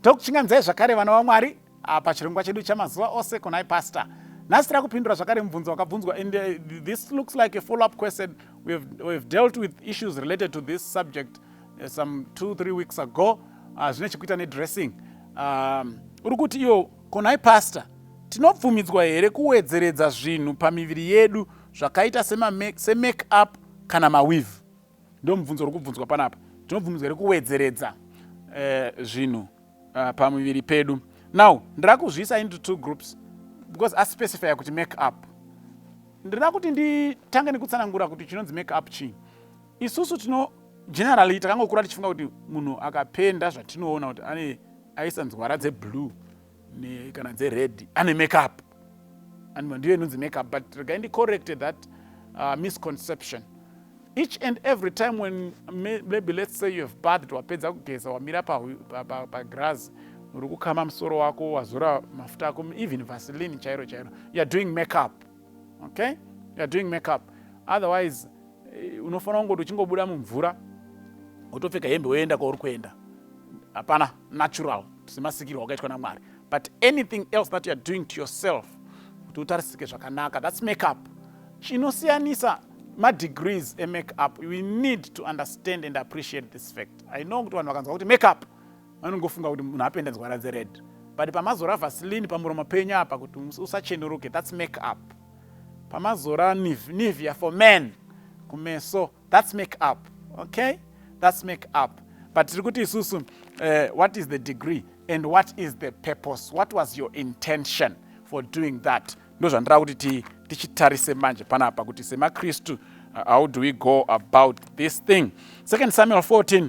tokuchinganzai zvakare vana vamwari ah, pachirongwa chedu chamazuva ose konai pastor nhasi tira kupindura zvakare mubvunzo wakabvunzwa and uh, this looks like a follow up question we've, we've dealt with issues related to this subject uh, some two three weeks ago ah, zvine uh, chekuita nedressing um, uri kuti iyo Ko nhai pastor, tinobvumidzwa here kuwedzeredza zvinhu pamiviri yedu zvakaita semake up kana maweave? Ndo mubvunzo uri kubvunzwa panapa. Tinobvumidzwa here kuwedzeredza eh, zvinhu uh, pamuviri pedu? Now ndira kuzviisa into two groups because aspecifya kuti make up. Ndira kuti nditange nekutsanangura kuti chinonzi make up chii. Isusu tino generally takangokura tichifunga kuti munhu akapenda zvatinoona kuti ane aisa nzwara dzeblue kana dzered ane makeup anova ndiyo inonzi makeup but regai ndicorrecte that uh, misconception each and every time when maybe let's say you have bathed wapedza kugeza wamira pagras uri kukama musoro wako wazora mafuta ako even vaseline chairo chairo youare doing makeup okay you're doing makeup otherwise eh, unofanira kungoti uchingobuda mumvura wotopfeka hembe woenda kwauri kuenda hapana natural semasikirwo wakaitwa namwari but anything else that youare doing to yourself kuti utarisike zvakanaka thats makeup chinosiyanisa madegrees emake up we need to understand and appreciate this fact i know kuti vanhu vakanzwa kuti make up vanongofunga kuti munhu apenda nzwara dzered but pamazora vasilini pamuromo penyu apa kuti usachenuruke thats make up pamazora nivia for man kumeso thats make up okay thats make up but tiri kuti isusu uh, what is the degree and what is the purpose what was your intention for doing that ndozvandira kuti tichitarise manje panapa kuti semakristu uh, how do we go about this thing second samuel 14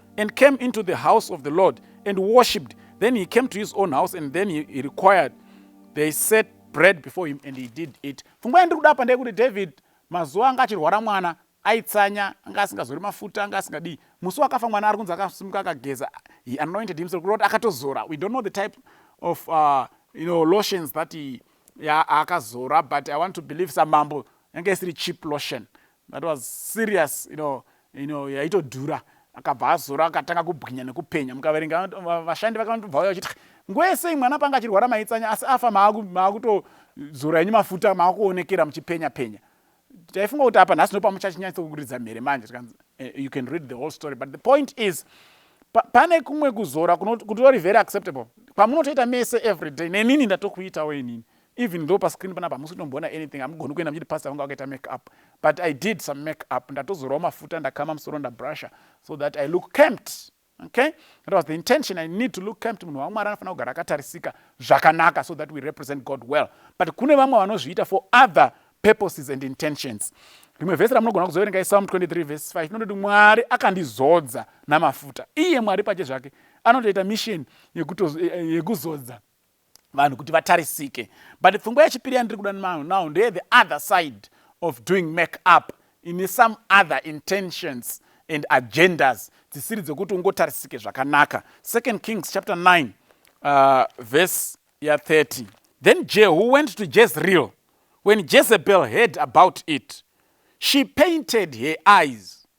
and came into the house of the Lord and worshipped. Then he came to his own house and then he, he required they set bread before him and he did eat. Pfungwa yandiri kuda apa ndeyekuti David mazuva anga achirwara mwana aitsanya anga asingazori mafuta anga asingadii musi wakafa mwana ari kunzi akasimuka akageza he anointed himself kureva kuti akatozora we don't know the type of uh, you know, lotions that he, ya, akazora but i want to believe samambo yanga isiri cheap lotion That was serious you know, you know, yaitodhura akabva azora akatanga kubwinya nekupenya mukaverenga vashandi vakanotobva vauya vachiti nguva yese mwana panga achirwara maitsanya asi afa maakutozora enyu mafuta maakuonekera muchipenya penya taifunga kuti apa nhasi ndopamuchachinyatsokuridza mhere manje tikanzi eh, you can read the whole story but the point is pa, pane kumwe kuzora kutori very acceptable kwamunotoita mese every day nenini ndatokuitawo inini Even though pa screen panapa hamusi kutomboona anything hamugoni kuenda muchiti pastor vanga vakaita make up but I did some make up ndatozorawo mafuta ndakama musoro ndabrusha so that I look camped okay that was the intention I need to look camped munhu waMwari anofanira kugara akatarisika zvakanaka so that we represent God well but kune vamwe vanozviita for other purposes and intentions rimwe vhesi ramunogona kuzoverenga isalm 23 vhesi 5 inototi mwari akandizodza namafuta iye mwari pache zvake anotoita misheni yekuzodza vanhu kuti vatarisike but pfungwa yechipiri yandiri kuda now ndeye the other side of doing make up ine some other intentions and agendas dzisiri dzekuti ungotarisike zvakanaka second kings chapter 9 uh, verse ya 30 then jehu went to jezreel when jezebel heard about it she painted her eyes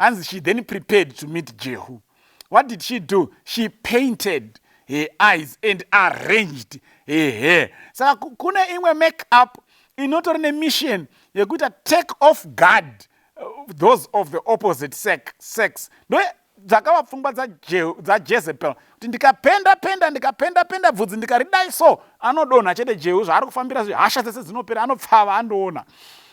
Hanzi she then prepared to meet Jehu. What did she do? She painted her eyes and arranged her hair. Saka kune imwe make up inotori nemission yekuita take off guard uh, those of the opposite sex ndo dzakava pfungwa dzajezebel kuti ndikapenda penda ndikapenda penda bvudzi ndikaridai so anodonha chete jehu zvaari kufambira zve hasha dzese dzinopera anopfava andoona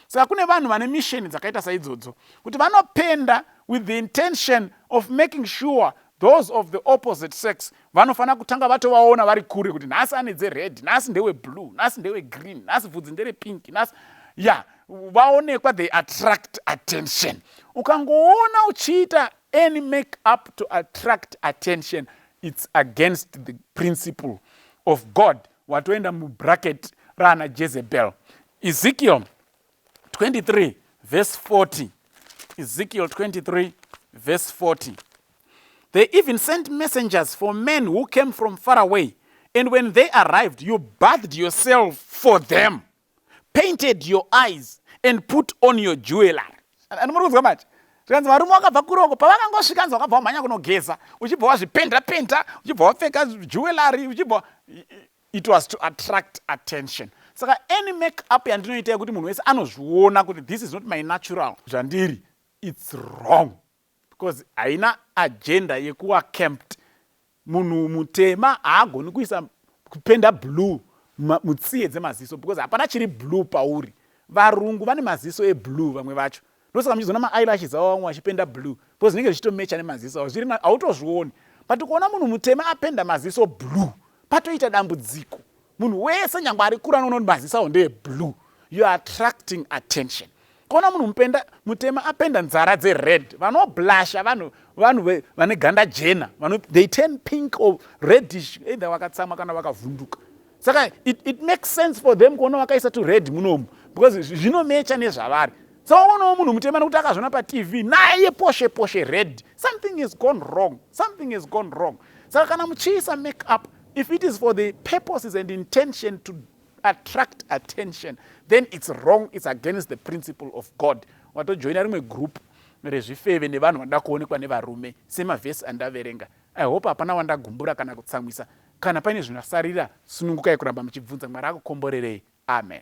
saka kune vanhu vane misheni dzakaita saidzodzo kuti vanopenda with the intention of making sure those of the opposite sex vanofanira kutanga vatovaona vari kure kuti nhasi ane dzered nhasi ndeweblue nhasi ndewegreen nhasi bvudzi nderepinki nhasi ya yeah vaonekwa they attract attention ukangoona uchiita any make up to attract attention its against the principle of god watoenda mubracket raana jezebel ezekiel 23 verse 40 ezekiel 23 verse 40 they even sent messengers for men who came from far away and when they arrived you bathed yourself for them painted your eyes and put on your jewellery anomuri kunzwa manje zvikanzi varume vakabva kuroko pavakangosvika nzi wakabva wamhanya kunogeza uchibva wazvipenda penda uchibva wapfeka jewellery uchibva It was to attract attention. Saka any make up yandinoita yekuti munhu wese anozviona kuti this is not my natural zvandiri it's wrong because haina agenda yekuwa camped. Munhu mutema haagoni kuisa kupenda blue mutsiye dzemaziso because hapana chiri blue pauri. Varungu vane maziso eblue vamwe vacho. ndosaka muchizoona ma eyelashes avo vamwe vachipenda blue because zvinenge zvichito matcher nemaziso avo zviri hautozvioni but ukaona munhu mutema apenda maziso blue patoita dambudziko munhu wese nyangwe ari kura anoona kuti maziso avo ndeye blue you are attracting attention kona munhu mupenda mutema apenda nzara dzered vanoblasha vanhu vanhu vane ganda jena they turn pink or redish either vakatsamwa kana vakavhunduka saka it, it makes sense for them kuona vakaisa to red munomu because zvinomecha nezvavari so waonawo munhu mutema nekuti akazvona patv naye poshe poshe red something is gone wrong something is gone wrong saka kana muchiisa make up if it is for the purposes and intention to attract attention then it's wrong it's against the principle of god watojoina rimwe group rezvifeve nevanhu vanoda kuonekwa nevarume semavhesi andaverenga i hope hapana wandagumbura kana kutsamwisa Kana paine zvinyasarira, sunungukai kuramba muchibvunza. Mwari akukomborerei. Amen.